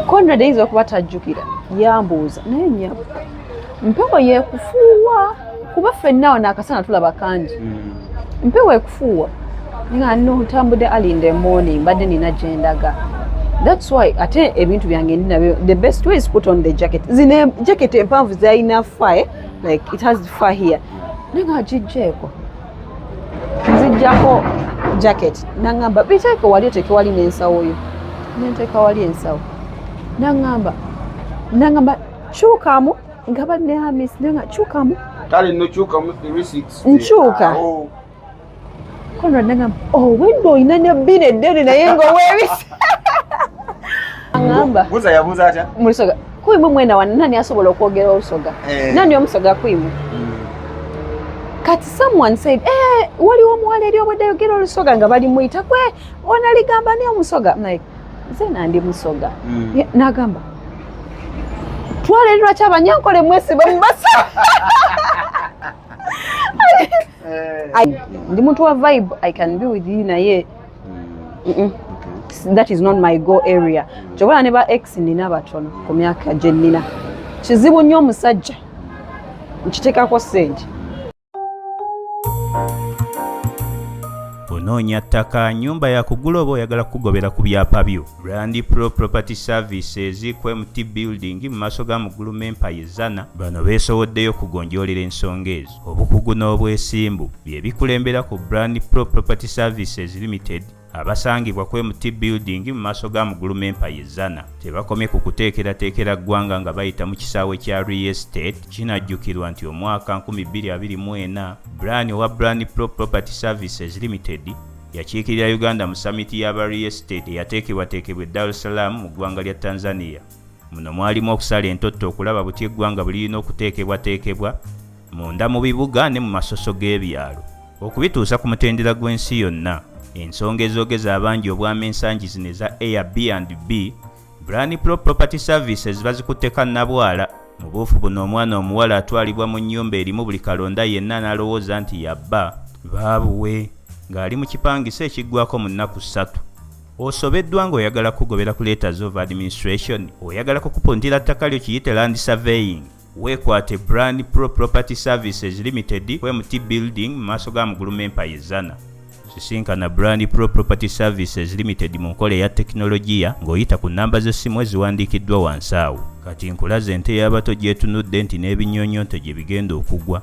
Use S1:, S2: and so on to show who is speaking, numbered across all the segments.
S1: Conrad ayinza okuba tajjukira yambuuza naye nyabo mpewo yekufuuwa kuba ffenna wano akasana tulaba kangi hmm. mpewo ekufuuwa nga no ntambudde ali in the morning mbadde nina gyendaga thats why ate ebintu byange ndi nabyo the best way is put on the jacket zino jacket empanvu zalina fire like it has fire naye nga gijjeeko nzijjako jacket naŋŋamba biteeke wali oteeke wali n'ensawo yo nenteeka wali ensawo naŋŋamba naŋŋamba kyukamu nga banne hamis nanga kyukamu kale nokyukamu
S2: nkyuka
S1: konrad naŋŋamba owedde oh, olina ne bbina eddene naye nga owebisa aŋŋamba buza yabuza atya
S2: mulisoga Kwimu
S1: mwena wano nani asobola okwogera olusoga? Eh. Nani omusoga kwimu? Mm. Kati someone said, eh, waliwo omuwala eri obwedde ayogera olusoga nga bali muyita kwe onaligamba ni omusoga. I'm like, nze nandi musoga. Mm. Yeah, nagamba. Twale lwa chaba nyankole mwesi bambasa. Eh. I, ndi mtu wa vibe, I can be with you na ye. that is not my go area kyobola ne ba ex nina batono ku myaka gye nnina kizibu nnyo omusajja nkiteekako sente
S3: onoonya ttaka nyumba yakugula oba oyagala kukugobera ku byapa byo rand pro property services ku mt building mu maaso ga mugulumu empaya ezana bano beesowoddeyo okugonjoolera ensonga ezo Obukugu n'obwesimbu bye bikulembera ku Brand Pro Property Services Limited abasangibwa ku MT Building mu maaso ga Muguluma Empire Zana. Tebakomye ku kuteekerateekera ggwanga nga bayita mu kisaawe kya Real Estate. Kinajjukirwa nti omwaka 2024 Brian owa Brand Pro Property Services Limited yakiikirira Uganda mu samiti y'aba Real Estate eyateekebwateekebwa e Dar es Salaam mu ggwanga lya Tanzania. Muno mwalimu okusala entotto okulaba butya eggwanga bwe lirina okuteekebwateekebwa munda mu bibuga ne mu masoso g'ebyalo okubituusa ku mutendera gw'ensi yonna. Ensonga ezoogeza abangi obwama ensangi zino eza Airbnb, Brani Pro Property Services bazikutte kannabwala. Mu buufu buno omwana omuwala atwalibwa mu nnyumba erimu buli kalonda yenna n'alowooza nti ya bba, baabuwe, ng'ali mu kipangisa ekiggwako mu nnaku ssatu. osobeddwa nga oyagala kugobera ku letters of administration oyagala kukupuntira ttaka lyo kiyite land surveying weekwate brand pro property services limited kwemt building mu maaso ga muguluma empaya ezana sisinkana brand pro property services limited mu nkola eya tekinologiya ng'oyita ku nnamba z'essimu eziwandiikiddwa wansi awo kati nkulaze ente y'abato gyetunudde nti n'ebinyonyonto gye bigenda okugwa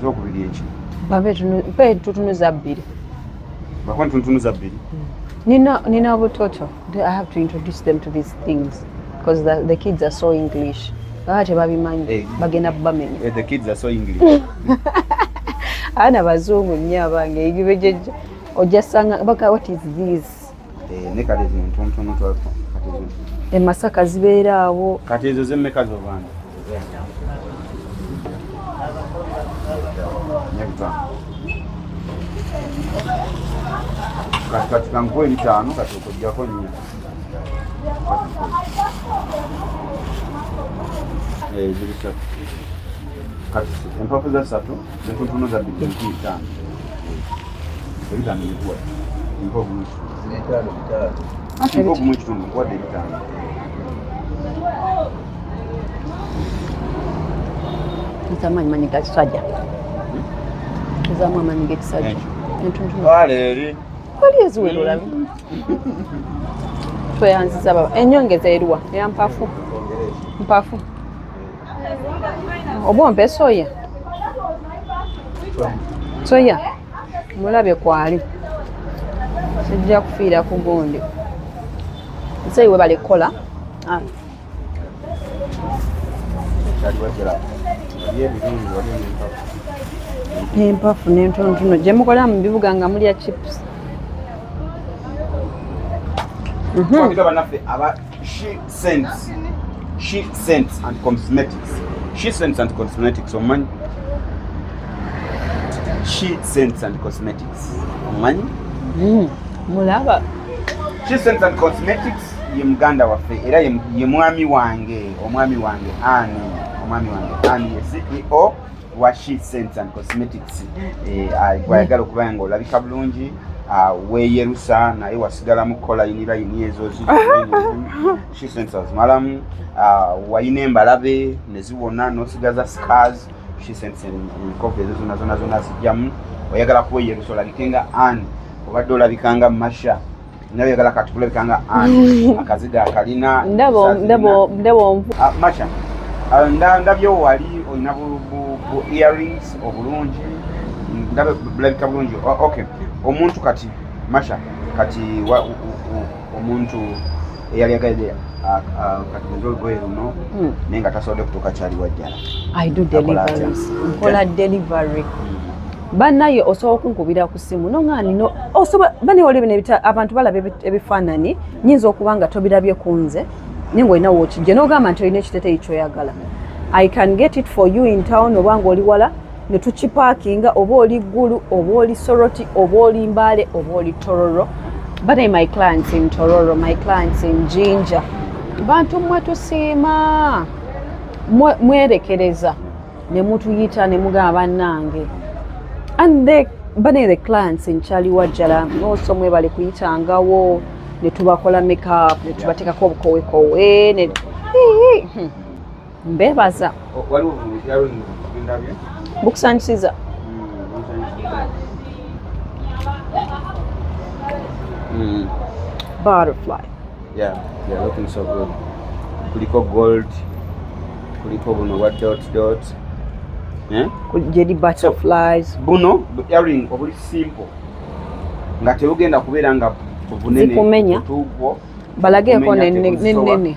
S2: zokubiri
S1: eki babe tutunuza bbiri bakwani
S2: tutunuza bbiri nina
S1: nina butoto i have to introduce them to these things because the, the kids are so english baba tebabimanyi eh. bagenda bamenya eh, the kids are so
S2: english
S1: abaana bazungu nnyo abange ojasanga baka what is this
S2: emasaka eh, zibeera
S1: awo kati ezo zemmeka
S2: zobanda kati kati kankuwa ebitaano kati okojjako nnyo eh, ziri satu kati empafu za satu
S1: Nzamani manyi gakisajja nzamu amanyi gekisajja waleeri
S2: wali
S1: eziwera olabi tweyanziza baba enyongeza eriwa eya mpafu mpafu oba ompe soya soya mulabe kwali sijja kufiira ku gundi nseyi webale kukola ah. empafu nentonotono gyemukola mu bibuga nga mulya chips mm-hmm.
S2: She sends. She sends and cosmetics. She sends and cosmetics omanyi. She sends and cosmetics omanyi. Mm,
S1: mulaba.
S2: She sends and cosmetics ye muganda waffe era ye mwami wange omwami wange ani omwami wange ani ye CEO wa she scents and cosmetics eh, gwayagala okuba nga olabika bulungi ah, weyerusa naye wasigala mu kola inira ini ezo she scents azimalamu ah, wayina embalabe neziwona nosigaza scars she scents enkovu ezo zona zona zona zijjamu oyagala kuweyerusa olabike nga an obadde olabika nga masha naye yagala kati kulabika nga ani akaziga akalina ndabo ndabo
S1: ndabo ah, macha
S2: ah, nda ndabyo wali olina bu bu earrings obulungi ndabo bulabika bulungi okay omuntu kati masha kati wa, u, u, omuntu eyali agadde katumiza olugoye luno hmm. naye nga tasobodde kutuuka kyali wajjala
S1: nkola delivery hmm. banaye osobola okunkubira ku simu noŋani banewali bino abantu balaba ebifaananyi nyinza okuba nga tobirabye ku nze naye ngaolina wokijje nogamba nti olina ekiteteyi kyoyagala i can get it for you in town oba nga oli wala ne tukipaakinga oba oli ggulu oba oli soroti oba oli mbaale oba oli tororo bane my clients in tororo my clients in jinja bantu mmwe tusiima mwerekereza ne mutuyita ne mugamba bannange and the bane the clients in chali wajjala also mwebale kuyitangawo ne tubakola makeup ne tubateekako obukowekowe ne hmm. mbebaza bukusanyusiza mm. butterfly yeah
S2: yeah looking so good kuliko gold kuliko buno wa dot dot eh
S1: jedi butterflies so, buno earring
S2: obuli simple nga tebugenda kubeera nga bunene zikumenya
S1: balageko nenene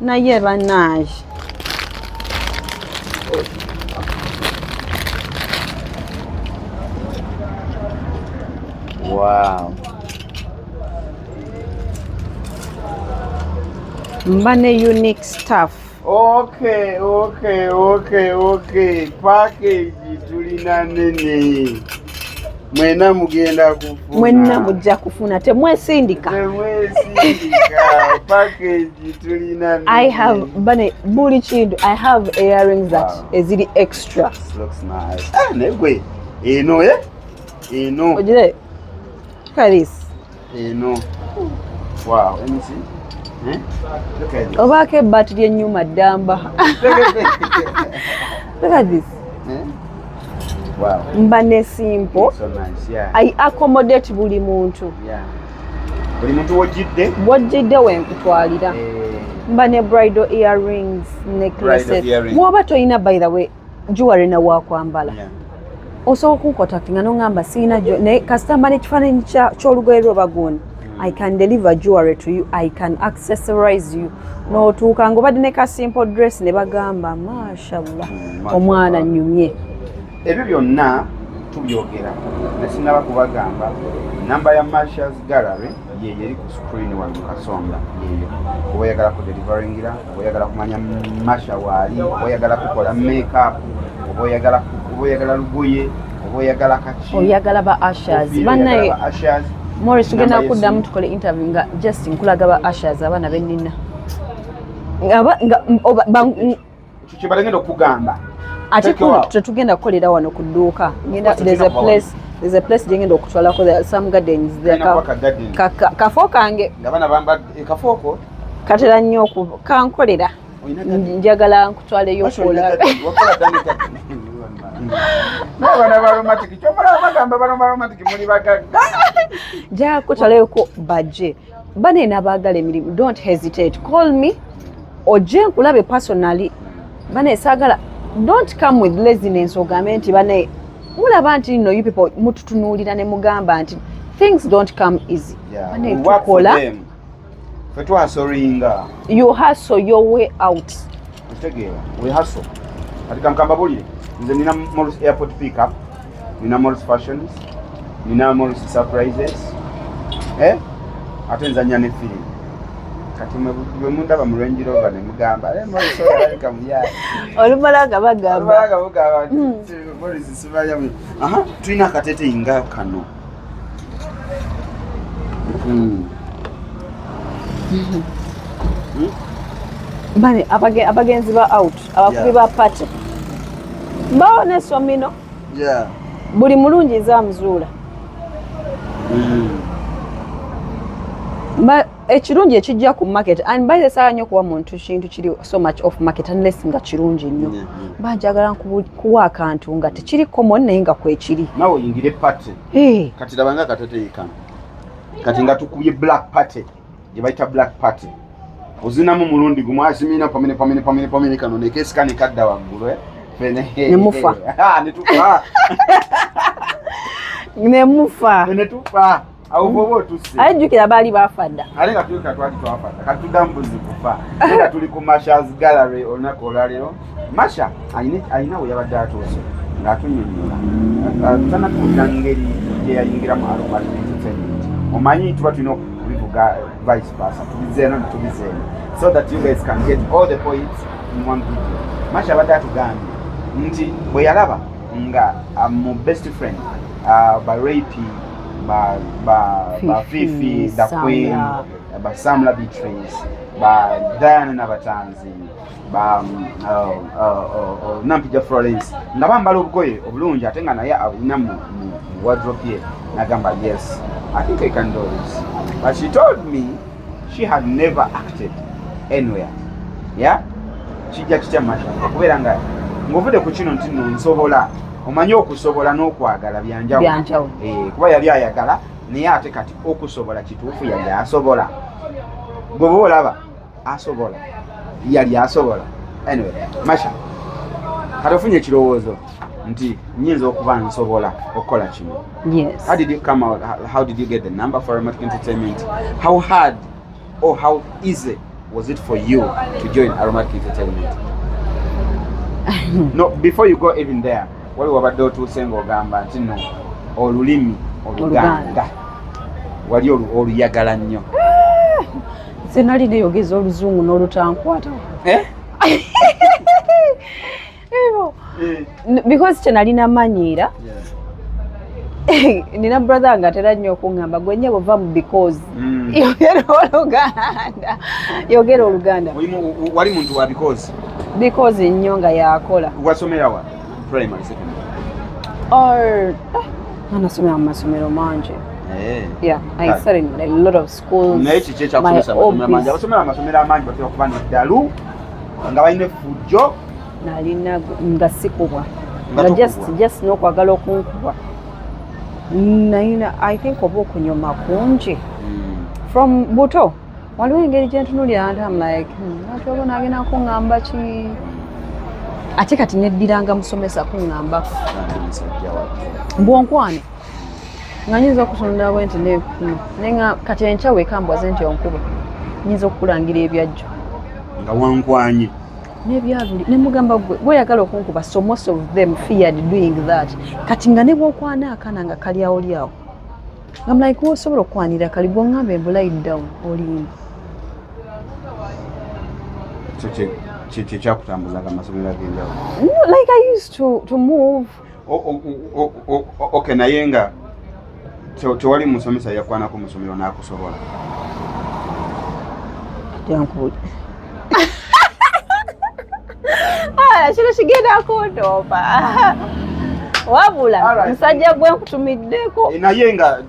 S1: naye banaye
S2: wow.
S1: mbane unique staff okay
S2: okay okay okay package tulina nene mwena mugenda kufuna mwena mujja
S1: kufuna temwesindika
S2: i have bane
S1: buli kintu i have earrings that wow. eziri extra ah,
S2: negwe eno eh? eno
S1: ojire look at this eno
S2: wow emisi eh? obaako ebbaati lyenyuma
S1: ddamba look at this eh?
S2: wow. mba ne
S1: simple so nice,
S2: yeah. i accommodate
S1: buli muntu yeah.
S2: buli muntu wojjidde wojjidde
S1: wenkutwalira eh. mba ne bridal earrings necklaces woba tolina by the way jewelry na wakwambala yeah. osobola kunkotaktinga nongamba siina naye kasita mba nekifaananyi kyolugoye lwe bagundi mm. i can deliver jewelry to you i can accessorize you notuuka nga obadde ne ka simple dress ne bagamba mashallah mm, omwana nyumye ebyo byonna
S2: tubyogera nesinaba kubagamba namba ya marshals gallery yeyo eri ku screen wali mukasonga yeyo oba oyagala ku deliveringiraku oyagala kumanya masha waali oba oyagala kukola makeup oba oyagala oba oyagala lugoye oba oyagala kaki oyagala ba ashers
S1: banaye Morris tugenda kuddamu tukole interview nga just nkulaga ba ashers abaana benina
S2: kyebagenda okugamba ate
S1: tetugenda kukolera wano ku dduuka ngenda there's a place there's a place gyengenda okutwalako some gardens kafo kange nga bana bamba ekafooko
S2: katera
S1: nnyo okuba
S2: kankolera
S1: njagala nkutwaleyo
S2: okola
S1: jakutaleko baje bane nabagala emirimu don't hesitate call me oje nkulabe personally bane sagala don't come with laziness ogambe nti bane mulaba nti no you people mututunuulira ne mugamba nti things don't come easy tukola fe
S2: twasoringa you hustle
S1: your way out otegeera
S2: we hustle kati kankamba bulire nze nina morris airport pick up nina morris fashions nina morris surprises eh? ate nzanya ne filimu kati bwe mundaba mu range rover ne mugamba eh, olumala nga
S1: bagamba hmm.
S2: tulina akateteyi nga kano hmm.
S1: bale abagenzi ba out abakubi ba pate mbawo nesomino buli mulungi zamuzuula hmm. ekirungi ekijja ku market and by the saa nyo kuwa muntu kintu kiri so much off market unless nga kirungi nnyo mba njagala kuwa akantu nga tekiri common naye nga kwekiri nawe oyingire party
S2: eh. kati labanga akatateyeka kati nga tukubye black party gye bayita black party ozinamu mulundi gumu asimina pamene pamene pamene pamene kano nekesikani kadda waggulu eh? nemufa
S1: ah, netufa
S2: nemufa netufa aye jjukira baali bafa
S1: dda ate nga tulika twali
S2: twafa dda kati tudda mu buzi kufa nga tuli ku mashas gallery olunaku olwaleero masha alina we yabadde atuuse ng'atunyonyola tana tuwulira ngeri gyeyayingiramu aromat entertainment omanyi tuba tulina okubivuga vice versa tubizeeno ne tubizeeno so that you guys can get all the points in one video masha abadde atugambye nti bwe yalaba nga ah, mu best friend uh, ba rape ba ba ba fifi da queen ba samla beatrice ba diana na batanzi ba um, uh, uh, uh, uh, nampija florence nga bambala obugoye obulungi ate nga naye abulina mu wardrobe ye nagamba yes i think i can do this but she told me she had never acted anywhere yeah kijja kitya mata okubeera nga ng'ovudde ku kino nti no nsobola omanyi okusobola n'okwagala byanjawulo eh, kuba yali ayagala naye ate kati okusobola kituufu yali asobola gweba olaba asobola yali asobola anyway masha kati ofunye ekirowoozo nti nyinza okuba nsobola okukola kino yes. how did you come out how did you get the number for aromatic entertainment how hard or how easy was it for you to join aromatic entertainment no before you go even there wali wabadde otuuse ngaogamba nti no olulimi oluganda wali oluyagala nnyo
S1: eh, senali neyogeza oluzungu n'olutankwata eh? Eh. because kyenalina manyiira nina brother nga atera nnyo okuŋŋamba gwe nyabo va mu because mm. yogera oluganda yogera oluganda wali muntu wa
S2: because because
S1: nnyo nga yakola wasomera wa
S2: primary secondary or ah,
S1: anasomera mu masomero mangi eh. Yeah, I ah. started in a lot of schools. Naye kiki ekyakusomesa
S2: amasomero amangi? Abasomera amasomero amangi batera kuba n'eddalu nga balina effujjo nalina
S1: nga sikubwa nga just just nokwagala okunkubwa nayina i think oba okunyuma kungi hmm. from buto waliwo engeri gyentunulira nti am like nati hmm, oba nagenda kuŋamba ki ate kati neddiranga musomesa kuŋambako mbwonkwane nga nyinza okutunulira bwe nti nekuma naye nga kati enkya wekambwaze nti onkuba nyinza okukulangira ebyajjo nga
S2: wankwanye nebyabuli
S1: nemugamba gwe gweyagala okunkuba so most of them feared doing that kati nga nebwokwana akana nga kalyawo lyawo nga mulaika like, osobola okukwanira kali gwongamba embulai down olimba
S2: kyekyakutambuzaga amasomero agenjawulo like i used
S1: to, to move oke
S2: naye nga tewali musomesa yakwanako musomero nakusobola
S1: ah, kino kigenda kundooma wabula musajja gwe nkutumiddeko eh, naye nga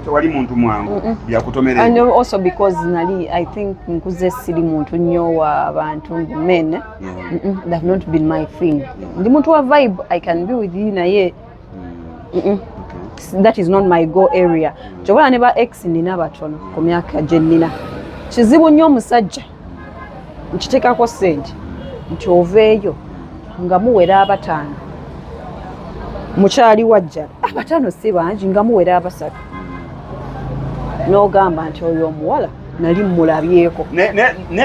S2: tewali muntu mwangu byakutomerera also because
S1: nali i think nkuze siri muntu nnyo wa bantu men ndi muntu wa vibe i can be with you naye mm. that is not my go area mm. kyobola ne ba ex nina batono ku myaka gye nnina kizibu nnyo omusajja nkiteekako sente nti oveeyo nga muwera abataano mukyali wajjala abataano si bangi nga muwera abasatu n'ogamba nti oyo omuwala nali mmulabyeko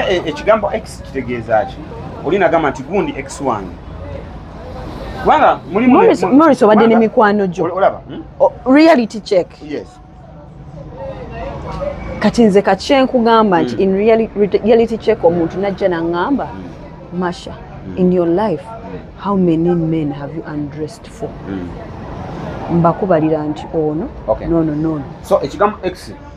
S1: e,
S2: ekigambo kitegeeza ki oli nagamba nti gundi ex wange kubanga mulimumorris
S1: obadde ne mikwano gyo olaba hmm?
S2: reality
S1: check yes kati nze kakyenkugamba nti hmm. in reality check omuntu najja nangamba hmm. masha in your life how many men have you undressed for mbakubalira nti ono nono nono so ekigambo ex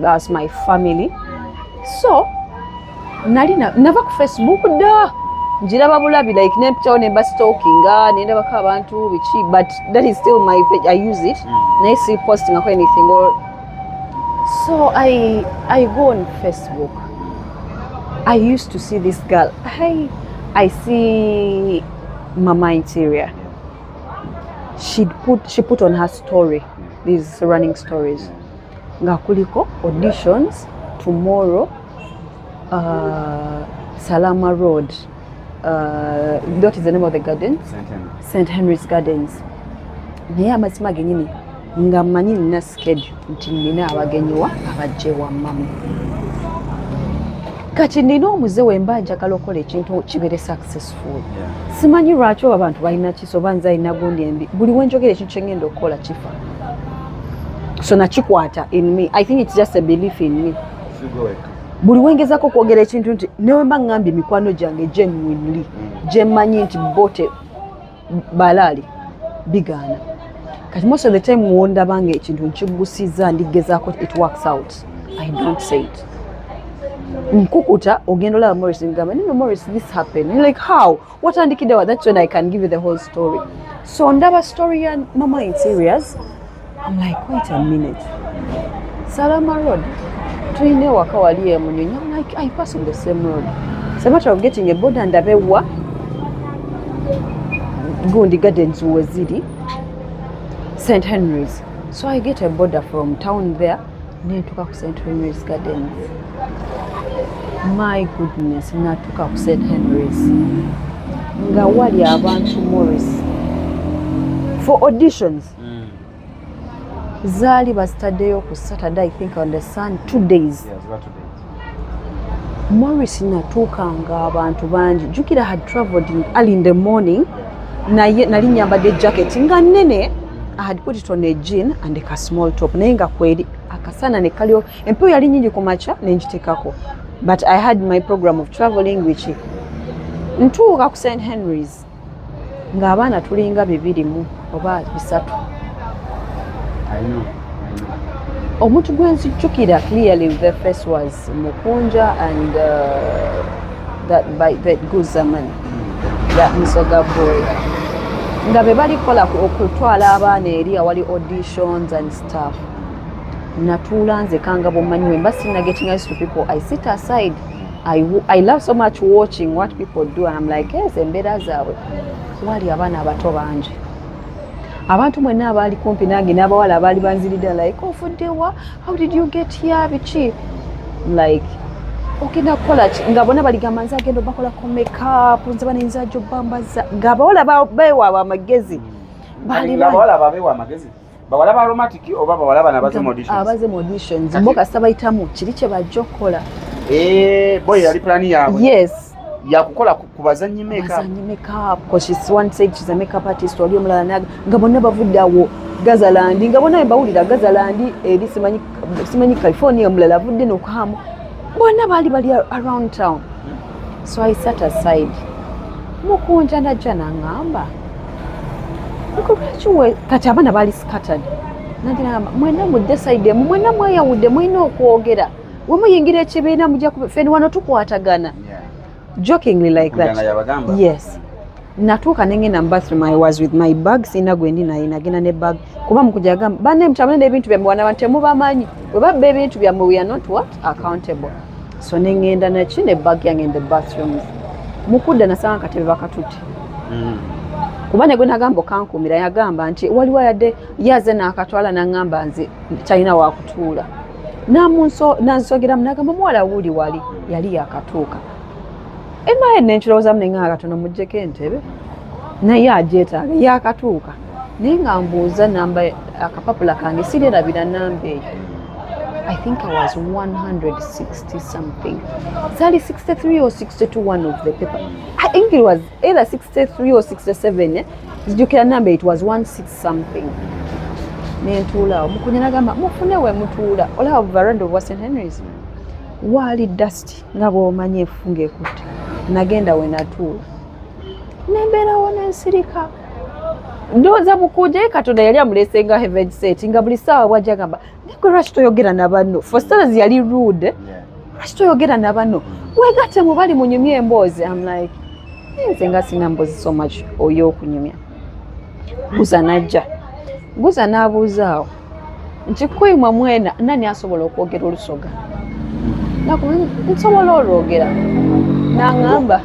S1: that's my family so nali nava ku facebook da njiraba bulabi like nempitawo nemba stalkinga nendabako abantu biki but that is still my page i use it mm. naye si postingako anything or so i i go on facebook i used to see this girl i i see mama interior she'd put she put on her story these running stories nga kuliko auditions tomorrow uh, salama road uh, that is the name of the garden st henry's gardens naye amazima genyini nga manyi nina schedule nti nina abagenyiwa abajja ewammamu kati nina omuze wemba njagala okola ekintu kibere success simanyi lwaki oba abantu balina kiso oba nze alina gundi embi buli wenjogera ekintu kyengenda okukola kifa so nakikwata in me i think its just a belief in me buli wengezako okwogera ekintu nti newemba ngambye mikwano gyange genuinely mm. gyemanyi nti bote balaali bigaana kati most of the time wondabanga ekintu nkigusiza ndigezako it works out I don't say it. Nkukuta ogenda olaba Morris ngamba nino Morris this happened. You're like how? Watandikidde wa that's when I can give you the whole story. So ndaba story ya mama in serious. I'm like wait a minute. Salama Road. Tuyina ewaka wali emunyonyi. I'm like I pass on the same road. It's a matter of getting a board and a bewa. Gundi Gardens weziri. St Henry's. So I get a border from town there nentuka ku St Henry's Gardens. My goodness, natuka ku St Henry's nga wali abantu Morris for auditions mm. zaali bazitaddeyo ku Saturday I think on the sun two days yeah, Morris natuuka nga abantu bangi jukira had traveled early in the morning naye nali nyambadde jacket nga nene I had put it on a jean and a small top naye nga kweri akasana ne kalio empewo yali nyingi ku makya ne ngitekako but I had my program of traveling which ntuuka ku St Henry's ng'abaana tulinga bibiri mu oba bisatu omuntu gwe nzijjukira clearly the face was mukunja and uh, that by that guzaman that musoga boy nga be balikola okutwala abaana eri awali auditions and stuff natuula nze kangabo manywe mba sinagetinga to people i sit aside I, I love so much watching what people do and I'm like yes embeera zaabwe wali abaana abato bangi abantu mwenna abaali kumpi nange n'abawala abaali banzirida like ofuddewa oh, how did you get here biki like ogenda kukola ki nga bona baligamba nze agenda obakola ku makeup nze bana nze ajo bambaza nga abawala bewaabwe amagezi mm. baali abawala babewa
S2: amagezi bawala ba aromatic oba bawala bana baze mu auditions abaze mu auditions
S1: mbo kasita bayitamu kiri kye bajja okukola eh
S2: boy yali plan yaabwe yes
S1: yakukola
S2: ku bazanyi makeup bazanyi makeup ko she
S1: one said she's a makeup artist wali omulala naga nga bonna bavudde awo Gazaland nga bonna bawulira Gazaland eri simanyi simanyi California omulala avudde nokuhamu bonna baali bali around town so i sat aside mukunja najja nangamba kati abaana bali scattered nagiramba mwena mudde side emu mwena mweyawudde mulina okwogera wemuyingira ekibiina muja feni wano tukwatagana jokingly like that yes natuuka nengenda mu bathroom i was with my bag sina gwendi naye nagenda ne bag kuba mukuja agamba banne mutabane n'ebintu byammwe wana bantu temubamanyi bwe babba ebintu byammwe we are not what accountable so nengenda naki ne bag yange in the bathrooms mukudda nasanga katebe bakatutte mm. kuba negwe nagamba okankuumira yagamba nti waliwo ayadde yaze nakatwala nangamba nze talina wakutuula nansogeramu nagamba omuwala wuuli wali yali yakatuuka emaye nenkirowoozamu nenganga katono mujjeko entebe naye agyetaaga yakatuuka naye nga mbuuza namba akapapula kange sirerabira namba eyo I think I was 160 something. Sali 63 or 62 one of the paper. I think it was either 63 or 67. Eh? Zijukira number it was 16 something. Nentuula omukunya nagamba mufune we mutuula olaba veranda of Western Henry's. Waali dust nga bw'omanyi efunga ekutte. Nagenda we natuula. Nembeerawo n'ensirika. ndowooza mukuje katonda yali amulese nga heaven set nga buli saawa bwajja gamba niko lwaki toyogera na banno for stars yali rude lwaki toyogera na banno wegatte mu bali munyumya emboozi am like nze nga sina mboozi so much oyo okunyumya guza najja guza n'abuuzaawo nti kuyimwa mwena nani asobola okwogera olusoga nsobola olwogera nangamba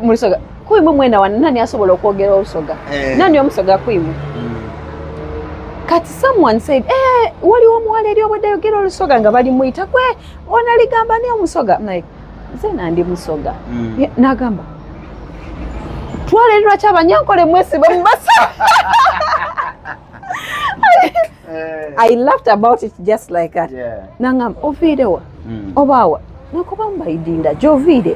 S1: mulisoga kuimu mwena wano nani asobola okwogera olusoga eh. nani omusoga kuimu hmm. kati someone said eh, waliwo omuwala eri obwedde ayogera olusoga nga balimuyita kwe ona ligamba ni omusoga like nze nandi musoga hmm. nagamba twalerirwa kyabanyankole mwesibe mubasa eh. i laughed about it just like that yeah. nangamba oviirewa mm. obaawa nakuba mbaidinda gyoviire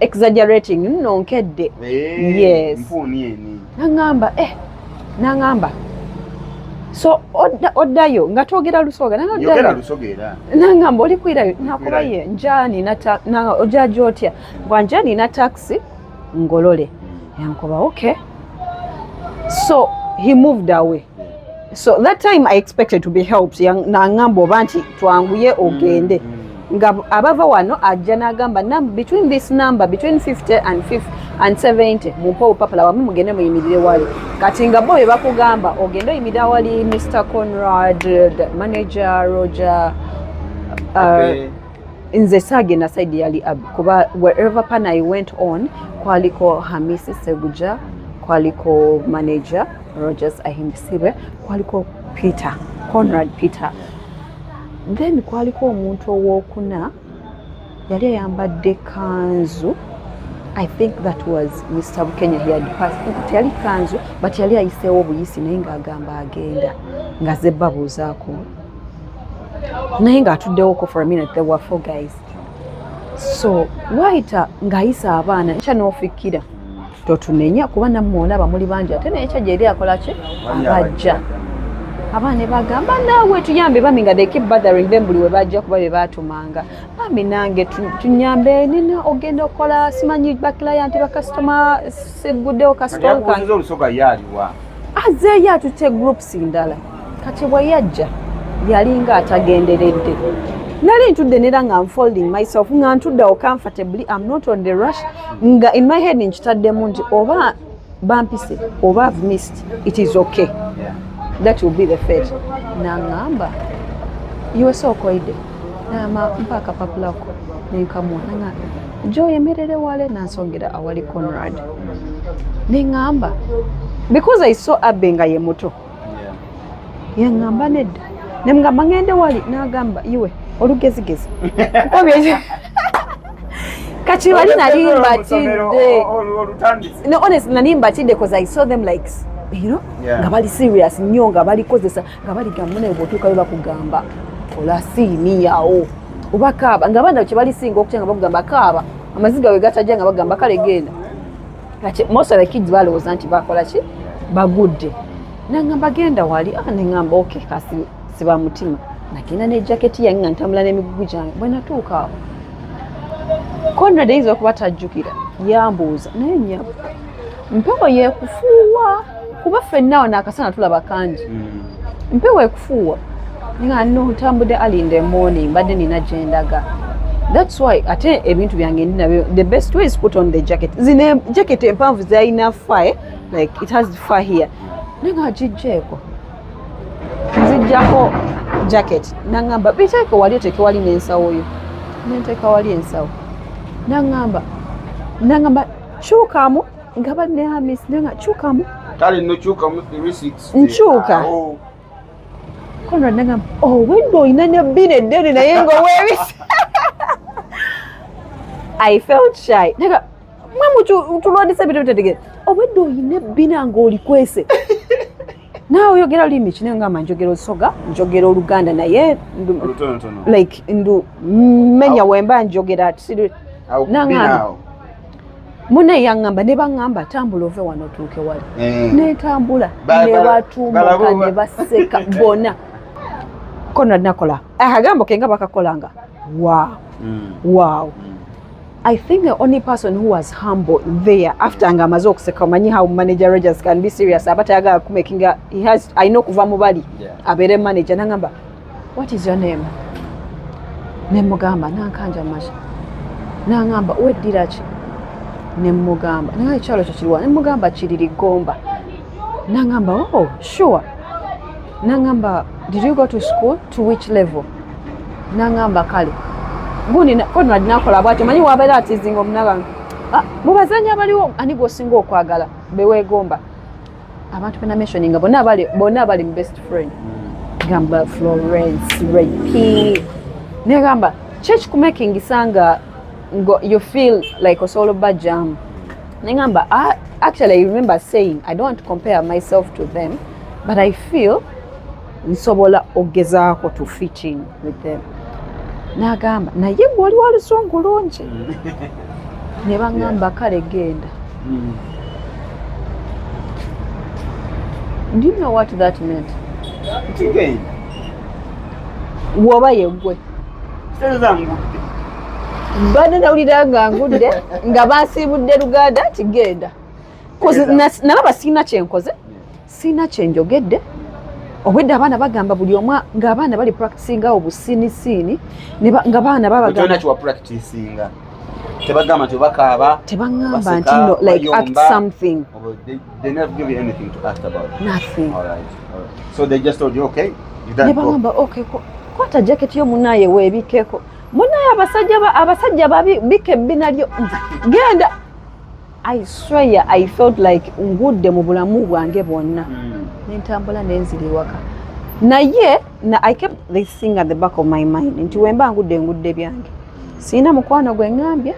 S1: exaggerating nno nkedde eh, yes mpuuni eni
S2: nangamba eh nangamba
S1: so oddayo nga twogera lusoga
S2: nangamba oli kwirayo
S1: nakuba ye njani ojaja otya bwa njani na taxi ngolole hmm. yankuba okay so he moved away so that time i expected to be helped nangamba oba nti twanguye mm, ogende mm. nga abava wano ajja nagamba between this number between 50 and 50 and 70 mumpa obupapula wamwe mugende muyimirire wali kati nga bo bebakugamba ogende oyimirira wali mr conrad manager roger uh, okay. nze saagenda side yali ab kuba wherever pan i went on kwaliko hamisi seguja kwaliko manager rogers ahimbisibwe kwaliko peter conrad peter then kwaliko omuntu owokuna yali ayambadde kanzu i think that was mr bukenya teyali kanzu but yali ayiseewo obuyisi naye ngaagamba agenda nga zebbabuuzaako naye ng'atuddewoko for a minute there were four guys so waayita ng'ayisa abaana ekya n'ofikkira totunenya kuba nammwe olaba muli bangi ate naye ekya gyeri akola ki abajja abaana bagamba naawe tuyambe bami nga they keep bothering them buli we bajja kuba be baatumanga bami nange tunyambe nina ogenda okukola simanyi bakilayanti bakasitoma siguddewo kasitoma kange
S2: azeeyo
S1: atutte groups ndala kati bwe yajja yalinga atagenderedde nali ntudde nera nga nfolding myself nga ntudde awo comfortably am not on the rush nga in my head nkitaddemu nti oba bampise oba have missed it is okay that will be the fate nangamba iwese okoide nama mpa akapapula ko nenkamwa nanga jo yemerere wale nansongera awali conrad nengamba because i saw abe nga ye muto yaŋŋamba nedda ne mugamba ŋŋende wali n'agamba iwe olugezigezi kati wali nali mbatidde honest nali mbatidde bcause i saw them like you know nga bali serious nnyo nga balikozesa nga baligamba naye bwotuuka be bakugamba olasiiniyawo oba kaaba nga abaana kye balisinga okutya nga bakugamba kaaba amaziga we gatajja nga bagamba kale genda kati most of the kids balowooza nti bakola ki bagudde nangamba genda wali ah, nengamba ok kasi siba mutima nagenda ne jaketi yange nga ntambula n'emigugu gyange bwe natuuka awo conrad eyinza okuba tajjukira yambuuza naye nyabo mpewo yekufuuwa kuba ffenna awo naakasana tulaba kangi mm. mpewo ekufuuwa nga no ntambudde ali in the morning mbadde nina gyendaga thats why ate ebintu byange ndi nabyo the best way is put on the jacket zine jacket empanvu zirina fa eh? like it has fa here naye nga agijjeeko nzijjako jacket nangamba biteeke wali oteeke wali n'ensawo yo nenteeka wali ensawo nangamba nangamba kyukamu nga banne hamis naye nga kyukamu kale nokyukamu
S2: nkyuka
S1: konrad nagamba owedde oh, olina ne bbina eddene naye nga owebisa i felt shy naga mwe mutulwandisa ebintu bitategere owedde oh, olina ebbina ngaolikwese naawe oyogera lulimi ki naye ngamba njogera olusoga njogera oluganda naye like ndu menya wemba njogera nangamba mune yangamba ne bangamba tambula ove wano otuuke wali eh. netambula nebatumuka ne baseka bona kona nakola akagambo kenga bakakolanga wow mm. wow mm. I think the only person who was humble there after nga amaze okuseka omanyi how manager Rogers can be serious aba tayagala kumakinga he has I know kuva mubali yeah. abeere manager nangamba what is your name nemugamba nankanja masha nangamba weddira ki nemugamba naye ekyalo kyo kiriwa nemugamba kiriri gomba nangamba oh sure nangamba did you go to school to which level nangamba kale guninadinakola bwatyo manyi wabeera atizinga omunabanga ah, mubazanya abaliwo ani gwosinga okwagala bewegomba abantu bena mentioninga bona abali mu best friend gamba florence repi negamba kyekikumakingisa nga Go, you feel like osobola obba jam nengamba ah, actually i remember saying i don't want to compare myself to them but i feel nsobola okugezaako to fit in with them nagamba naye gwe oli walusungu lungi ne bagamba kale genda mm. do you know what that meant woba yegwe mbadde nawulira nga ngudde nga bansiibudde luganda nti genda nalaba sirina kyenkoze sirina kyenjogedde obwedde abaana bagamba buli omu ng'abaana bali practicinga awo busiinisiini nga baana babagambakiwapracticinga
S2: tebagamba nti bakaaba tebagamba nti no
S1: like act something oh, they, they never
S2: give you anything to act about nothing all right, all
S1: right.
S2: so they just told you okay you don't go. ne bagamba okay
S1: kwata jacket yo munaye webikeko munaye abasajja abasajja babi bika ebbina lyo genda i swear i felt like ngudde mu bulamu bwange bwonna hmm. nentambula nenzira ewaka naye na i kept this thing at the back of my mind nti wemba ngudde ngudde byange sirina mukwano gwe ŋambya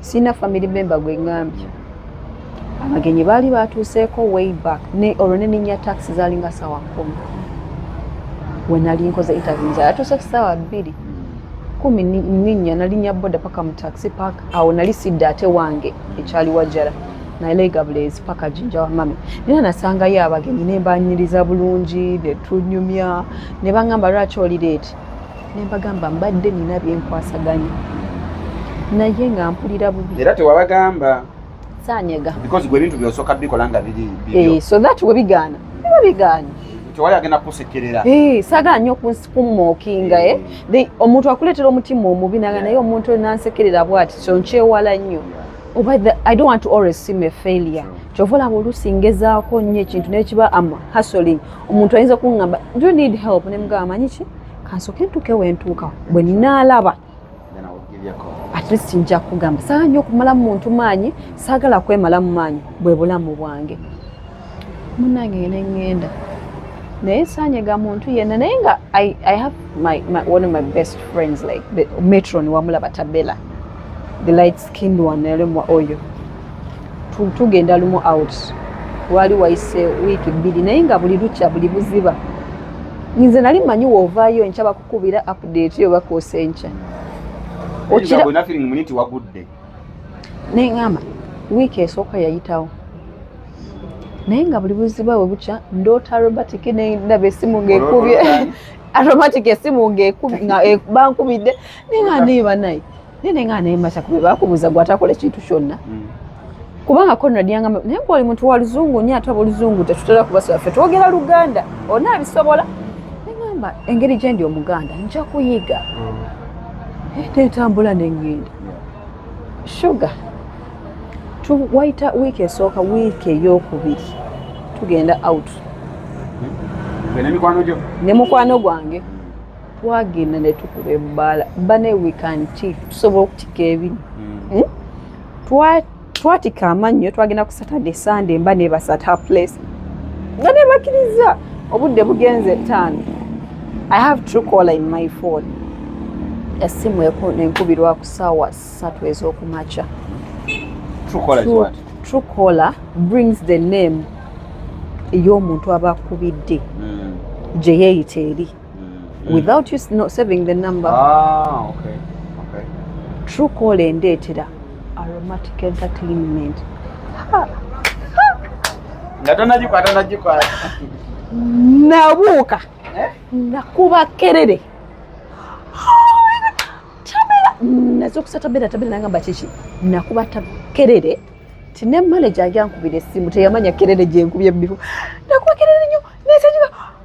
S1: sirina family member gwe ŋambya abagenyi baali baatuuseeko way back ne olwo ne ninya taxi zaalinga saawa kumi we nali nkoze interview nze yatuuse ku saawa bbiri kumi ninya nalinya boda paka mu taxi park awo nali sidda ate wange ekyali wajjala naleega buleezi paka jinja wa mami nina nasangayo abagenyi ne mbanyiriza bulungi ne tunyumya ne baŋŋamba lwaki oli leeti ne mbagamba mbadde nina byenkwasaganya naye nga mpulira bubi era tewabagamba
S2: sanyega
S1: because gwe bintu byosoka
S2: bikola nga biri bibyo eh so that we bigana
S1: biba bigana
S2: tewali agenda kusekerera eh saga nyo
S1: kunsikumookinga eh the omuntu akuletera omutima omubi naga naye omuntu nansekerera bwati so nkyewala nyo oba the i don't want to always see me failure kyovola bulusi ngezaako nyo ekintu nekiba am hustling omuntu ayinza kungamba do you need help nemugamba manyi ki kansoke ntuke wentuuka bwe naalaba at least nja kugamba saa nyo okumala mu muntu maanyi saagala kwemala mu maanyi bwe bulamu bwange munange ne ngenda naye saanyega muntu yenna naye nga I, i have my, my, one of my best friends like the metron wamulaba tabela the light skinned one nalemwa oyo tugenda lumu out wali wayise wiiki bbiri naye nga buli lukya buli buziba nze nali manyi woovaayo nkyaba kubira update yo bakosa enkya okira bona feeling muni ti wagudde naye ngamba wiiki esooka yayitawo naye nga buli buziba we bukya ndoota aromatic nendaba esimu ngaekubye aromatic esimu ngabankubidde naye nga niiba naye nene nga nayemasa kuba bakubuza gwe atakola ekintu kyonna mm. kubanga konrad yangamba naye gwe oli muntu wa luzungu nyo ate aboluzungu tetutera kubasaba ffe twogera luganda olina abisobola negamba engeri gyendi omuganda nja kuyiga mm. eh, netambula nengenda shuga wayita wiiki esooka wiiki eyokubiri tugenda out mm. ne mukwano gwange twagenda ne tukuba ebbaala bane wikanti tusobola okutika ebino hmm. hmm? twatika amannyo twagenda ku saturday sunday mba nebasat her place nga nebakiriza obudde bugenze ettaano i have true caller in my phone esimu enkubirwa ku saawa ssatu ez'okumakya true caller brings the name ey'omuntu aba akubidde hmm. gye yeeyita eri mm. without you not saving the number ah, okay. Okay. true call endeetera aromatic entertainment
S2: nga tonagikwata nagikwata nabuuka
S1: eh? nakuba kerere naza okusa tabera tabera nangamba kiki nakuba kerere ti ne manaja agyankubira essimu teyamanya kerere gyenkubye mubifu nakuba kerere nyo nesajuka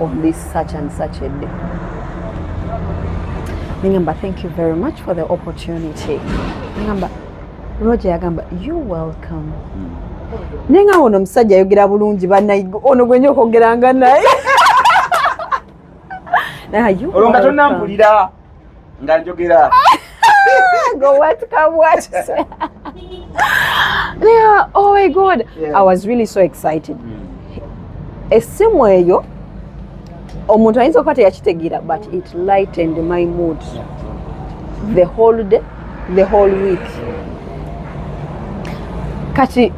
S1: on this such and such a day. Ningamba, thank you very much for the opportunity. Ningamba, Roger yagamba, you welcome. Mm. Naye nga ono omusajja ayogera bulungi banaye ono gwenye okwogeranga naye
S2: olwo nga tonambulira nga njogera
S1: go what come what yeah, oh my god yeah. i was really so excited mm. esimu eyo omuntu ayinza okuba teyakitegeera but it lightened my mood the whole day the whole week kati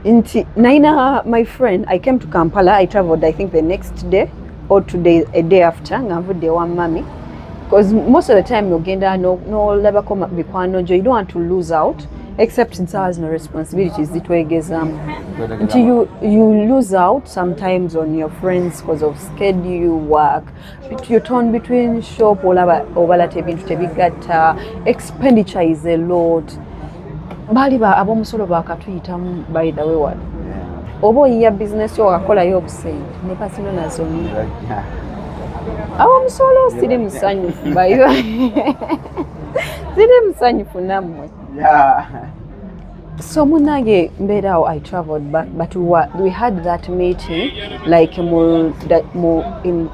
S1: nti naina my friend i came to kampala i traveled i think the next day or today a day after nga nvudde ewa mummy because most of the time nogenda nolabako no mikwano gyo you don't want to lose out except nsawa zino responsibilities zitwegezamu nti you, you lose out sometimes on your friends because of schedule work you turn between shop olaba obalata ebintu tebigatta expenditure is a lot baali ba ab'omusolo bakatuyitamu by the way wali oba oyiya bizinesi wakakolayo obusente ne kasino nazoni ab'omusolo siri musanyufu bayo siri musanyufu nammwe so munange mbeeraawo i traveled but, but we, were, we had that meeting like mu, mu in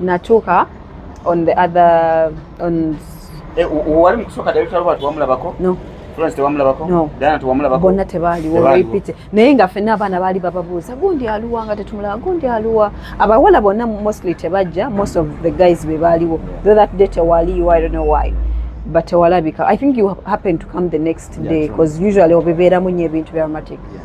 S2: natuuka
S1: on the other on eh, wali
S2: mukusooka director robert wamulabako no florence tewamulabako no. diana tewamulabako
S1: bonna
S2: tebaaliwo
S1: olwepite naye nga fenna abaana baali bababuuza gundi aluwa nga tetumulaba gundi aluwa abawala bonna mostly tebajja most of the guys be baaliwo though that day tewaliyo i don't know why but tewalabika i think you happen to come the next day because yeah, usually obibeeramu nyo ebintu bya romantic yeah.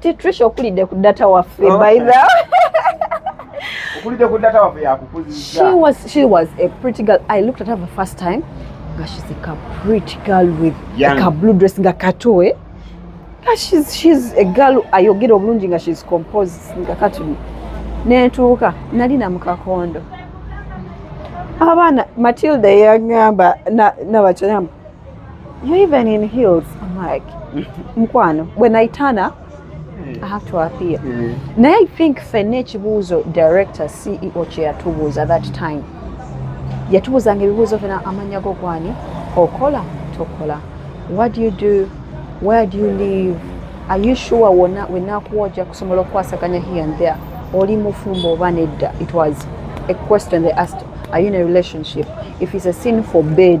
S1: Titrish okulidde ku data waffe oh. by the okulidde
S2: ku data waffe yakukuzizza. She was she was a
S1: pretty girl. I looked at her for the first time. Nga she's like a pretty girl with Young. like a blue dress nga kato eh. Nga she's she's a girl ayogera obulungi nga she's composed nga kato. Netuuka nali na mukakondo. Abana Matilda yangamba na na bachanamba. You even in heels. I'm like, mkwano, when I turn up, I have to appear. Mm. Naye I think fenna ekibuuzo director CEO kye yatubuuza that time yatubuuzanga ebibuuzo fena amannya go gwani okola tokola what do you do where do you live are you sure wona wenakuwa ojja kusobola okukwasaganya here and there oli mufumbo oba nedda it was a question they asked are you in a relationship if it's a sin for bed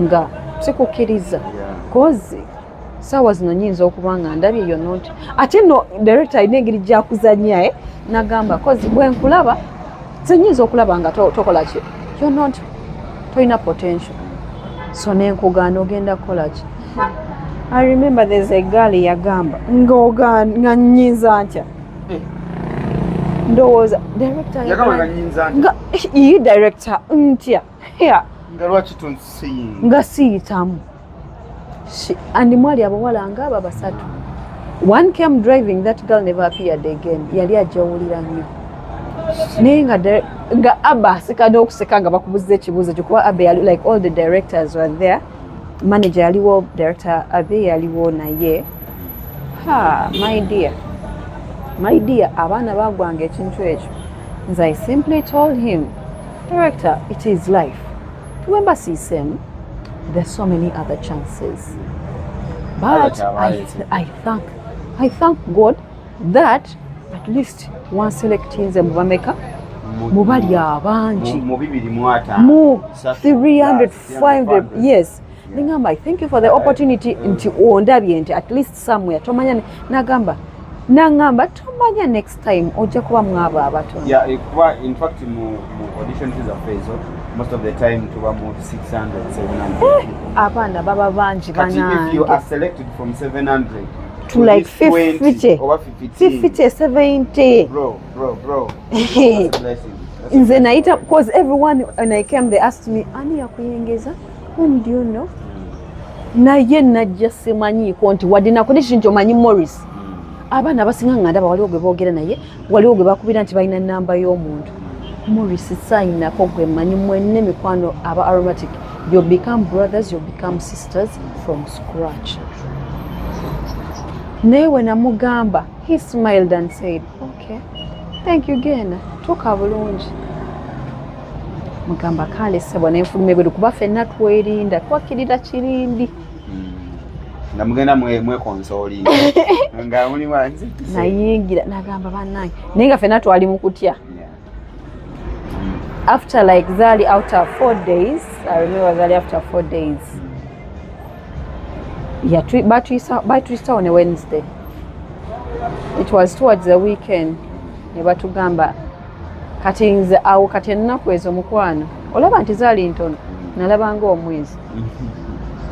S1: nga sikukkiriza kozi saawa zino nyinza okuba nga ndabye yo not ate no director alina engeri gyakuzanya e eh? nagamba kozi bwenkulaba zenyinza okulaba nga tokola ki yo not tolina potential so nenkugaana ogenda kukola ki i remember there's a girl yagamba ngaogaana nyinza ntya eh. ndowooza director nga
S2: iyi
S1: director ntya Yeah. Nga lwaki
S2: tonsiyinga? Nga siyitamu.
S1: Andi mwali abawala nga aba basatu. One came driving that girl never appeared again. Yali ajawulira nnyo. Naye nga nga Abba asika n'okuseka nga bakubuza ekibuuzo kyo kuba Abba yali like all the directors were there. manager yaliwo director abe yaliwo naye ha my dear my dear abaana bagwanga ekintu ekyo nze i simply told him director it is life tuwemba sisem there's so many other chances but I, I thank i thank god that at least one selectinze mubameka mubali abangi mu 300 find the yes ningamba i thank you for the opportunity nti ondabye nti at least somewhere tomanya nagamba nangamba tomanya next time ojja kuba mwaba abato yeah, eh, kuba in
S2: fact mu, mu audition za fezo most of the time tuba mu 600 700 eh, abaana baba
S1: bangi banange if you are selected
S2: from 700 to like
S1: 50 or 50 70 bro
S2: Bro, bro. Nze nayita
S1: because everyone when I came they asked me ani yakuyengeza whom do you know naye najja simanyiiko nti wadde nakuli kiri nti omanyi Morris abaana abasinga nga ndaba waliwo gwe boogera naye waliwo gwe bakubira nti balina namba y'omuntu Morris sayinako gwe manyi mwenne mikwano aba aromatic you become brothers you become sisters from scratch naye wenamugamba he smiled and said Okay. Thank you again. Tuka bulungi. Mugamba kale sebo ne mfulume bwe kuba fenna twerinda twakirira kirindi. Hmm.
S2: Nga mugenda mwe mwe konsolinga. Nga muli wanzi. Nayingira
S1: nagamba banange. Ninga fenna twali mukutya. Yeah. after like Zali after four days I remember Zali after four days yeah batuyisa on a Wednesday it was towards the weekend ne batugamba kati nze awo kati ennaku ezo mukwano olaba nti zaali ntono nalabanga omwezi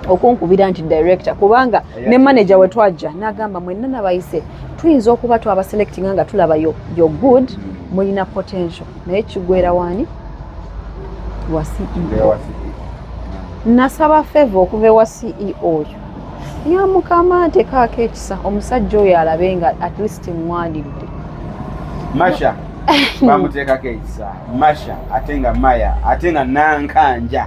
S1: okunkubira nti director kubanga ne manager we twajja n'agamba mwenna nabayise tuyinza okuba twabaselectinga nga tulaba yo good mulina potential naye kigwera waani wa ceo nasaba feva okuva ewa ceo oyo ya mukama ntekaako ekisa omusajja oyo alabe nga at least mmwandiridde
S2: masha bamuteekako ekisa masha ate nga maya ate nga nankanja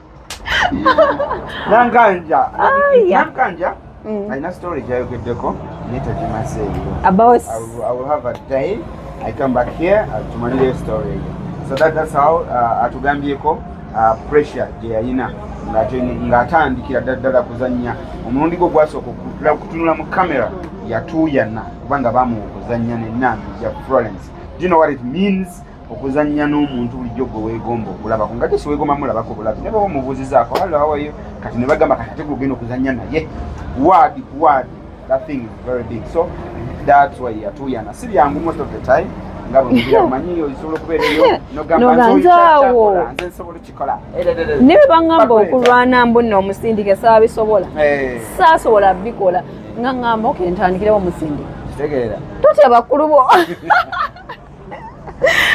S2: Nankanja. Oh, yeah. Nankanja. Mm. I know story Jayo Gedeko. Nita Jimase. About. I will,
S1: I will have
S2: a day. I come back here. I'll uh, tomorrow your story. So that, that's how uh, atugambieko uh, pressure jeyayina ng'atandikira daddala kuzannya omulundi gwe gwasooka okutunula mu kamera yatuuyana kubanga bamuwa okuzannya nenambi ya florence do you know what it means okuzannya n'omuntu bulijjo gwe weegomba okulabako nga gye siweegomba mulabako bulabi ne baba omubuuzizaako halawayo kati ne bagamba kati ate gugenda okuzannya naye waadi ku waadi that thing is very big so that's why yatuuyana si byangu most of the time nga bwemugira omanyi osobola okubeera eyo noganzaawo
S1: nze nsobola
S2: okikola naye
S1: bangamba okulwana mbu nno omusindike saabisobola eh. saasobola bikola nga ngamba okentandikirawo omusindike kitegeera
S2: totya bakulu bo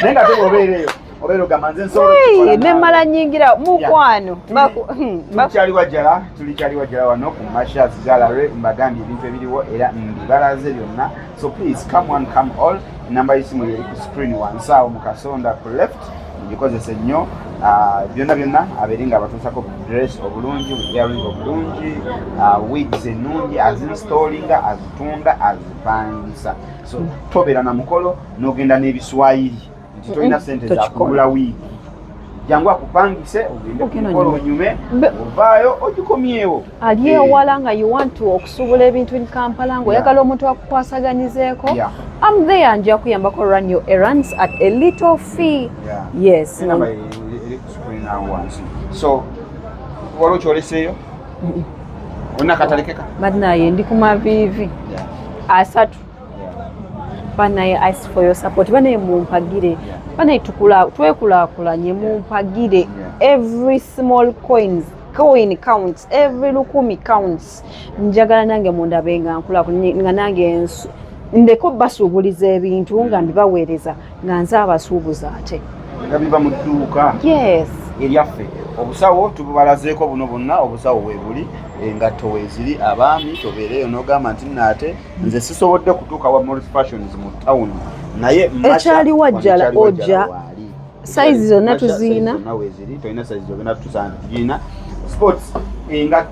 S2: naye nga teba obeera eyo obeera ogamba nze nsobolanemmala nyingira
S1: mukwano tukyali hmm, wajjala
S2: tuli kyali wajjala wano ku mashas gallery mbagambye ebintu ebiriwo era mbibalaze byonna so please come one come all enamba y'esimu yeri ku screen wansaawo mu kasonda ku left ngikozese nnyo ah, byonna byonna abeere nga abatuusako dress obulungi earing obulungi ah, wigs ennungi azinstallinga azitunda azipangisa so tobeera na mukolo n'ogenda n'ebiswayiri nti tolina sente zakugula wiigi jangu akupangise ogende kumukolo onyume ovaayo ogikomyewo ali eh. ewala
S1: nga you want to okusuubula ebintu in kampala ngaoyagala omuntu akukwasaganyizeeko am there nja kuyambako run your errands at a little fee yes
S2: so waliwo kyoleseeyo Ona katalekeka. Banaye ndi ku
S1: mavivi. Asatu. Banaye I ask for your support. Banaye mumpagire. Banaye tukula twekulakulanye mumpagire every small coins coin counts every lukumi counts njagala nange mundabe nga nkula nga nange ndeko basuubuliza ebintu nga ndibaweereza nga nze abasuubuza ate nga biva mu
S2: dduuka yes
S1: eryaffe
S2: obusawo tububalazeeko buno bonna obusawo webuli engatto weziri abaami tobeereyo nogamba nti naate nze sisobodde kutuuka wa moris fashions mu town naye ekyali wajjala
S1: ojja sayizi zonna tuziina tolina sayizi
S2: zogenda tusaana tugiina sports engatto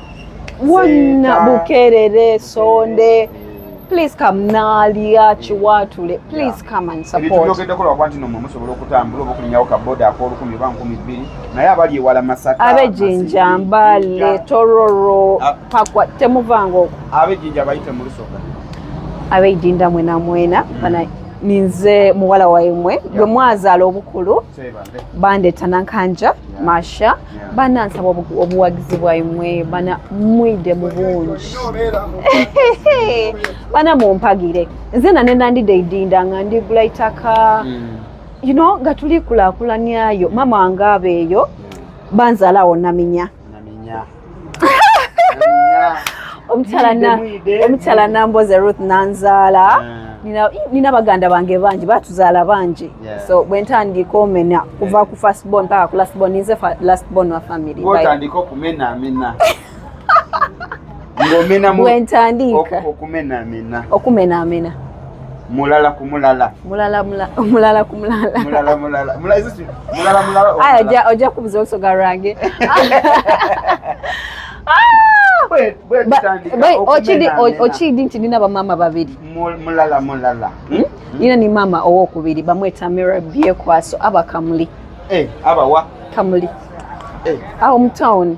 S1: wonna bukerere sonde please come nalya kiwatule please come and support ebyogeddeko lwakuba nti nomwe
S2: musobola okutambula oba okulinyawo kaboda akolukumi oba nkumi bbiri naye abali ewala masaka abejinja
S1: mbale tororo ah. pakwa temuvanga okwo abejinja bayite
S2: mu lusoga abejinda
S1: mwena mwena mm. ninze muwala waimwe gwe mwazaala obukulu bandeeta nankanja yeah. masha yeah. bana nsaba obuwagizi bwaimwe bana mwide mu bungi bana mumpagire nze nane nandide idinda nga ndigula itaka mm. you know nga tulikulakulaniayo mama wange abeeyo banzalaawo naminya omukyala namboze ruth nanzaala ah. nina baganda bange bangi batuzaala bangi so bwentandika omena kuva ku first born paka ku last born ninze last born wa family
S2: ngomena mu bwentandika okumena mena
S1: okumena mena mulala
S2: kumulala mulala mulala kumulala mulala mulala mulala sisi
S1: mulala mulala aya ja oja kubuza oso garange okidi nti nina bamama babiri mulala mulala
S2: hmm? Hmm? nina
S1: ni mama owokubiri bamweta mira byekwaso abakamuli eh, abawa
S2: kamuli
S1: eh. awo mutawuni